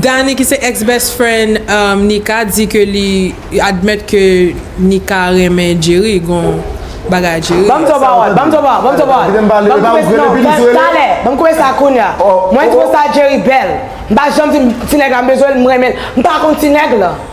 Danny ki se ex best friend Nika di ke li admèt ke Nika renmen Jerry gon bagay Jerry. Banm twò pawòl, banm twò pawòl, banm twò pawòl. Kite m pale, epa ou rele pi douce rele. Talè, banm koupe sa kounya. Mwen twouve sa Jerry bèl. M pa janm di m ti nèg la m bezwen l, m renmen l. M pa kont ti nèg lan.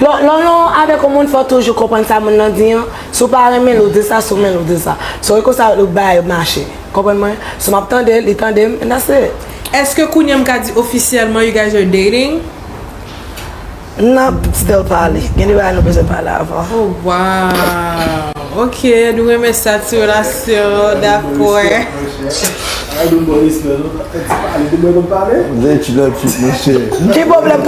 Lè w nan avèk yon moun fò w toujou konprann sa moun lan di an, si w pa renmen l ou di sa, si w renmen l ou di sa. So e konsa ou bay mache. Konprann mwen? So map tande l, li tande m and that's it. Eske kounye an m ka di ofisyèlman you guys are dating? Nap still pale. Gen de bagay nou bezwen pale avan. Oh wow ok nou renmen sa ti relasyon dakor. Ki pwoblèm